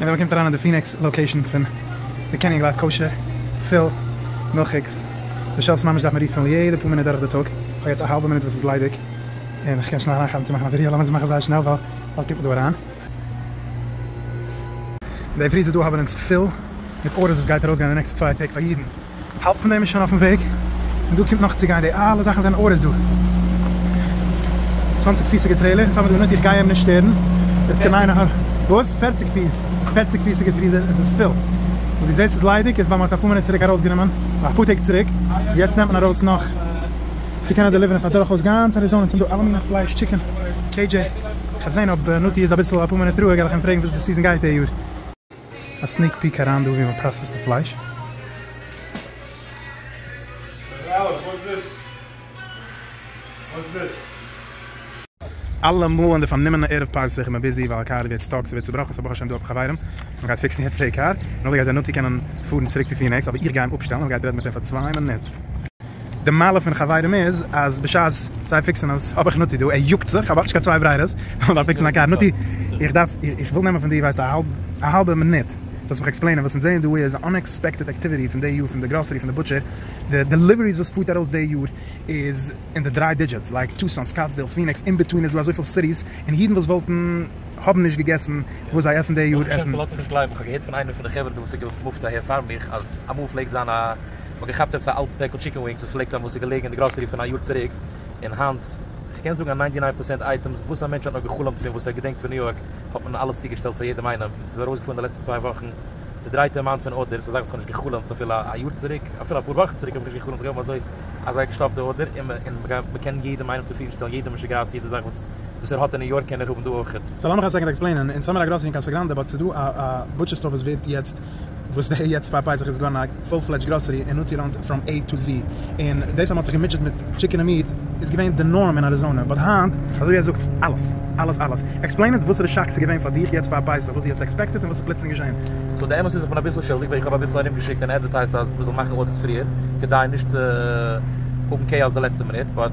און ווען מ'קומט אריין אין די פיניקס לאקעישן פון די קעניג לייף קאושער פיל מילכיגס די שעלפס ממש דארף מען ריפילן יעדע פאר מינוט דורך די טאג, כ'האב יעצט א האלבע מינוט וואס איז ליידיג און כ'קען שנעל אריינכאפן צו מאכן א ווידעא, לאמיר עס מאכן זייער שנעל ווייל באלד קומט מען דא אריין. די פריזערס דא האבן אונז פיל מיט ארדערס וואס גייט ארויסגיין אין די נעקסטע צוויי טעג פאר יעדן. האלב פון דעם איז שוין אויפן וועג, און דא קומט נאך צו גיין, די אלע זאכן זענען ארעס דא, צוואנציג פיסיגע טרעילער אין סאמעט די מינוט, איך גיי אים נישט שטערן, עס קען איינער העלפן. וואס? פערציג פיס? פערציג פיסיגע פריזער, עס איז פול, און דו זעסט ס'איז ליידיג, איז ווייל מען האט אפאר מינוט צוריק ארויסגענומען, אפאר טעג צוריק, יעצט נעמט מען ארויס נאך, צו קענען דעליווערן פאר דורכאויס גאנץ אריזאנע, עס זענען דא אלע מיני פלייש, טשיקען, קעי דזשעי, כ'וועל זען אויב נתי איז אביסל אפאר מינוט רואיג, וועל איך אים פרעגן וואס די סיזען גייט די יאר. א סניק פיק אריין דא ווי מען פראסעסט די פלייש. אלע מאל אין די פארנומענע ערב פסח איז מען ביזי ווייל א קאר ווערט סטאק, ס'ווערט צובראכן, סא ברוך השם דא האב איך א חברים וואס גייט פיקסן יעצט די קאר, נאכדעם גייט דער נתי קענען פארן צוריק צו פינעקס אבער איך גיי אים אפשטעלן און איך גיי יעצט רעדן מיט אים פאר צוויי מינוט. די מעלה פון חברים איז אז בשעת זיי פיקסן עס האב איך נתי דא, ער יאגט זיך, כ'האב אויך נישט קיין צוויי ברירות, איך דארף פיקסן א קאר, נתי איך דארף איך וויל נעמען פון דיר ווייסט א האלבע מינוט, זאלסט מיך עקספלעינען, וואס אונז זעען דא איז אן אנעקספעקטעד עקטיוויטי פון די יאר פון די גראסערי פון די בוטשער, די דעליוועריס וואס פארט ארויס די יאר איז אין די דריי דידזשיטס, לייק טוסאן, סקאטסדעיל, פיניקס, אינבעטווין איז דא אזויפיל סיטיס און אידן וואס וואלטן. האבן נישט געגעסן וואס זיי עסן די יו ט עסן. לאזט זיך נישט גלייבן, איך האב געהערט פון איינער פון די חברה דא וואס איז געמופט אהער פאר מיך אז אמאל פלעגט זיין א מ'האט געכאפט עפעס א אלט פעקל טשיקן ווינגס וואס פלעגט האבן וואס איז געלעגן אין די גראסערי פון א יאר צוריק און היינט איך קען זאגן אז ניינטי ניין פראצענט אייטעמס וואס א מענטש האט נאר געחלומט פון וואס ער געדענקט פון ניו יארק האט מען אלעס צוגעשטעלט פאר יעדעם איינעם און ס'איז ארויסגעפארן די לעצטע צוויי וואכן צודרייטע אמאונט פון ארדערס אזאך וואס כ'האב נישט געחלומט אפילו א יאר צוריק אפילו אפאר וואכן צוריק האב איך נישט געחלומט אז כ'וועל האבן אזוי אזא געשטאפטע ארדער און מ'קען יעדעם איינעם צופרידן שטעלן יעדע משוגעת יעדע זאך וואס וואס ער האט אין ניו יארק קען ער האבן דא אויכעט. סא לאמיך א סעקאנד עקספלעינען, אין סאמער א גראסערי אין קאסא גראנדע באט ס'איז דא א א בוטשער סטאר וואס ווערט יעצט וואס דער יעצט פאר פסח איז געווארן א פול פלעדזש גראסערי און נאטי ראנט פראם עי טו זי און דאס אז מ'האט זיך געמוטשעט מיט טשיקען און מיעט איז געווען די נארם אין אריזאנע באט היינט אזוי ער זאגט אלעס אלעס אלעס עקספלעין איט וואסערע שאק ס'איז געווען פאר דיך יעצט פאר פסח וואס דו האסט עקספעקטעט און וואס איז פלוצלינג געשען. סא די אמת איז איך בין אביסל שולדיג ווייל איך האב אביסל ארום געשיקט און עדווערטייזט אז מ'זאל מאכן אודיטס פריער כדי נישט צו האבן קעיאס די לעצטע מינוט באט.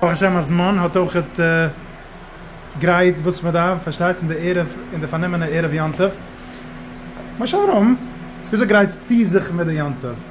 ברוך השם אז מאן האט אויך גרייט וואס מען דארף פארשטייסט אין די ערב אין די פארנומענע ערב יום טוב, מה שאומרים וויאזוי גרייטסטו זיך מיט די יום טוב?